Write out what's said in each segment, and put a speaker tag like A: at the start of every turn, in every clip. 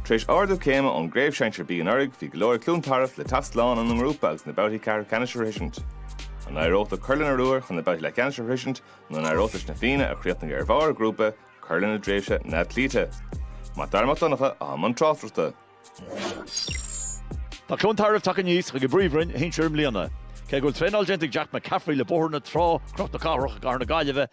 A: Tar éis ardú céime ón gCraobh Sinsear B anuraidh, bhí go leor ag Cluain Tarbh le teacht slán óna ngrúpa agus na babhtaí ceathrú ceannais a shroisint. An n-éireodh leo cur lena ruathar chun na babhtaí leathcheannais a shroisint nó an n-éireodh leis na Fianna, a chríochnaigh ar bharr a ngrúpa, cur lena dtréimhse neamhchloíte? Mac Dara Mac Donncha i mbun
B: tráchtaireachta. Tá Cluain Tarbh tagtha aníos chuig an bpríomhroinn shinsir i mbliana. Cé go bhfuil traenáil déanta ag Jack McCaffrey le Bóthar na Trá, Cnoc na Cathrach i gcathair na Gaillimhe,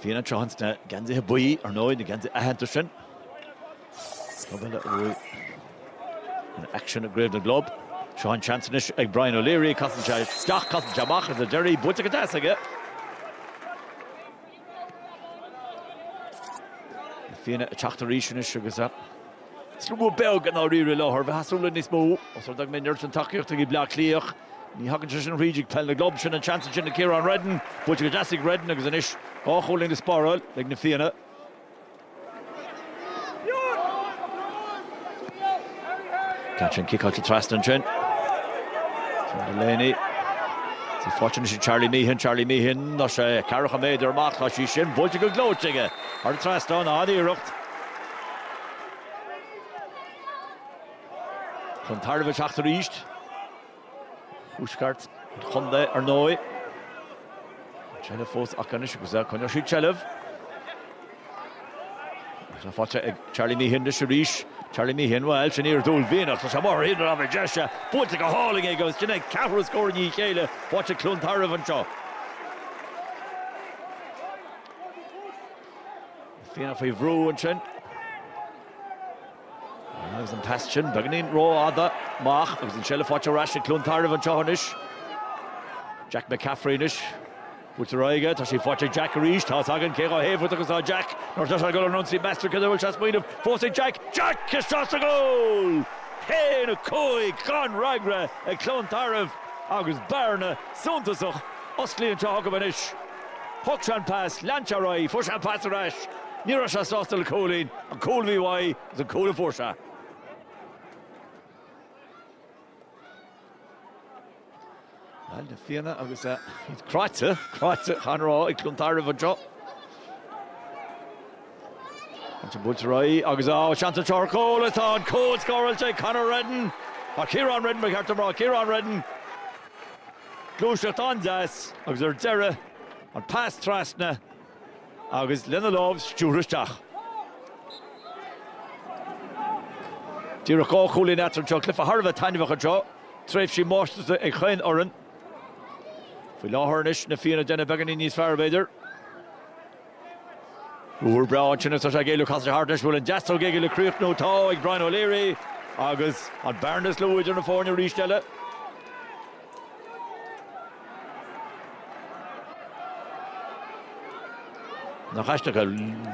B: Fianna tráth sna geansaithe buí, ar ndóigh, na geansaithe aitheanta sin. Scamall uaidh in aicsean i gCraobh na gClub. Seo an seans anois ag Brian O'Leary, casann sé isteach, casann sé amach, is O'Leary, buailte go deas aige. Fianna ag teacht arís anois agus slua beag i ndáiríre i láthair. Bheifeá ag súil le níos mó os rud é go mbíonn an oiread sin tacaíochta ag Bleá Cliath ach ní thagann sé sin thríd ag peil na gclub, sin an seans ansin ag Ciarán Reddin. Buailte go deas ag Reddin agus anois dhá chúilín le spáráil ag na Fianna. Caitheann ciceáilte trasna ansin. Cian Delaney. Tá sé faighte anois ag Charlie Meehan, Charlie Meehan, tá sé 40 méadar amach, tá sí sin buailte go gleoite aige. Thar an trasnán an iarracht. Cluain Tarbh ag teacht arís. thuaisceart an chontae, ar ndóigh. An tseilbh fós acu anois, agus coinneoidh siad seilbh. Tá sé faighte ag Charlie Meehan anois arís. Charlie Meehan, bhuel, sin iarracht uaillmhianach. Tá sé amuigh ar thaobh na láimhe deise, buailte go hálainn aige agus sin é an ceathrú scór i ndiaidh a chéile faighte ag Cluain Tarbh anseo. Fianna faoi bhrú ansin. Agus an pas sin beagainín rófhada amach agus an seilbh faighte ar ais ag Cluain Tarbh anseo anois. Jack McCaffrey anois. Buailte ar aghaidh aige, tá sí faighte ag Jack arís, tá a fhios againn cé chomh tábhachtach is atá Jack. Nuair atá sé ag dul in ionsaí meas tú céard air a bhfuil sé ag smaoineamh fós ag Jack. Jack isteach sa gcúl! Haon a cúig gan fhreagra ag Cluain Tarbh agus bearna suntasach osclaithe anseo acu anois. Thug sé an pas, lean sé ar aghaidh, fuair sé an pas ar ais. Ní raibh sé sásta le cúilín, an cúl a bhí uaidh agus an cúl a fuair sé. Bhuel, na Fianna agus iad cráite, cráite Chathair an Rá ag Cluain Tarbh anseo. Ansin buailte ar aghaidh agus seans anseo ar chúl, tá an cúl scóráilte ag Conor Reddin, ag Ciarán Reddin, ba cheart dom a rá, Ciarán Reddin. Gluaiseacht an-deas agus ar deireadh an pas trasna agus lena lámh stiúrtha isteach. Díreach dhá chúilín eatarthu anseo. Cluiche thar a bheith taitneamhach anseo. Tréimhsí máistreachta ag chaon fhoireann. Faoi láthair anois, na Fianna ag déanamh beagáinín níos fearr, b'fhéidir. Ár bhrón ansin is atá sé ag éileamh casadh thart anois go bhfuil an deasóg éigin le críochnú atá ag Brian O'Leary agus an bhearna is lú idir na foirne arís eile. Nach aisteach é.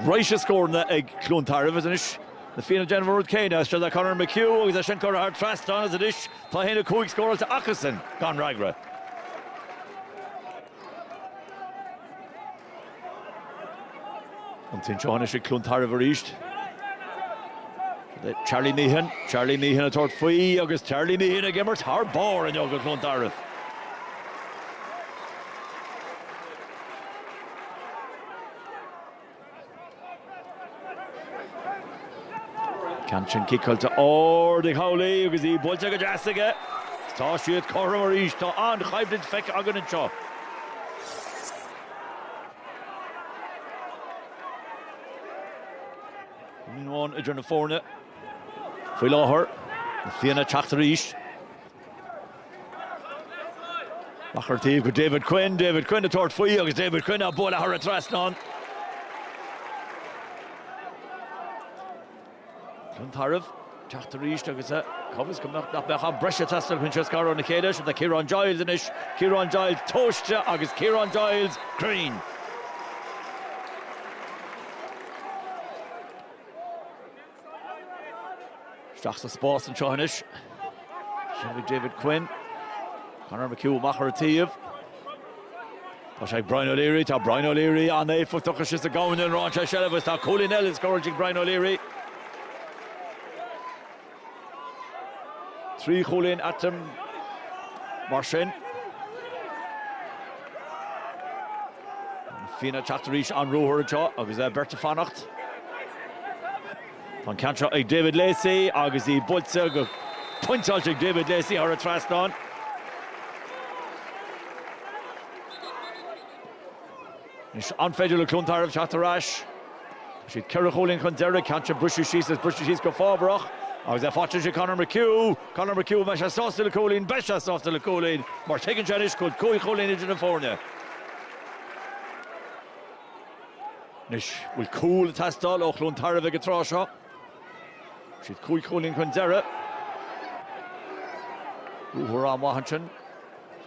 B: Raidhse scóranna ag Cluain Tarbh is anois na Fianna déanamh an rud céanna isteach go Conor McHugh agus é sin curtha thar an trasnán is anois tá 1-5 scóráilte acusan gan fhreagra. An ceann seo anois ag Cluain Tarbh arís. Charlie Meehan, Charlie Meehan ag tabhairt faoi agus Charlie Meehan ag imirt thar barr inniu do Cluain Tarbh. Ceann sin ciceáilte ard ag Howley agus í buailte go deas aige. Tá siad cothrom arís. Tá an-choimhlint feicthe againn anseo. Ceann amháin idir na foirne. Faoi láthair, na Fianna ag teacht arís. Amach ar an taobh go David Quinn, David Quinn ag tabhairt faoi agus David Quinn á bualadh thar an trasnán. Cluain Tarbh ag teacht arís agus a cá bhfios nach mbeidh am breise ag teastáil chun iad a scaradh óna chéile. Seo é Ciarán Giles anois, Ciarán Giles tomhaiste agus Ciarán Giles cruinn. Isteach sa spás anseo anois. Seo é David Quinn. Conor McHugh amach ar an taobh. Tá sé ag Brian O'Leary, tá Brian O'Leary an-éifeachtach is is é a ghnóthaíonn a lán seilbh seilbh is tá cúilín eile scóráilte ag Brian O'Leary. Trí chúilín atá ann mar sin. Na Fianna ag teacht arís, an ruathar anseo agus beirt ag fanacht. Tá an ceann seo ag David Lacey agus í buailte go pointeáilte ag David Lacey thar an trasnán. Anois an féidir le Cluain Tarbh teacht ar ais? Tá siad ceithre chúilín chun deiridh, ceann seo briste síos is briste síos go fabhrach agus faigheann sé Conor McHugh. Conor McHugh, an mbeidh sé sásta le cúilín? Beidh sé sásta le cúilín mar tuigeann sé anois go bhfuil cúig chúilín idir na foirne. Anois bhfuil cúl ag teastáil ó Chluain Tarbh ag an tráth seo. Tá siad cúig chúilín chun deiridh. Ruathar an-mhaith ansin.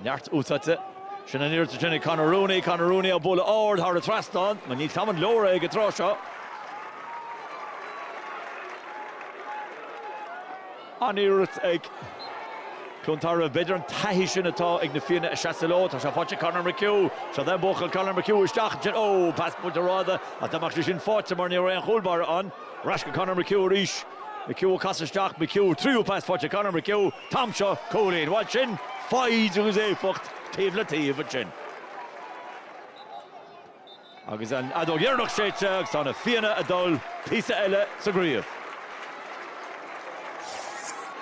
B: Neart úsáidte. Sin an oiread sin ag Conor Rooney. Conor Rooney á bhualadh ard thar an trasnán. Níl tamall an leor acu ag an tráth seo. An-iarracht ag Cluain Tarbh. B'fhéidir an taithí sin atá ag na Fianna ag seasamh leo. Tá sé faighte ag Conor McHugh. Seo é an buachaill, Conor McHugh isteach ansin. Ó! Pas buailte ró-fhada ach dá mbeadh sé sin faighte mar ní raibh aon chúl báire ann. Ar ais go Conor McHugh arís. McHugh ag casadh isteach. McHugh, tríú pas faighte ag Conor McHugh. An t-am seo, cúilín, bhuel sin foighid agus éifeacht taobh le taobh ansin. Agus an fheadóg dheireanach séidte agus tá na Fianna ag dul píosa eile sa gcraobh.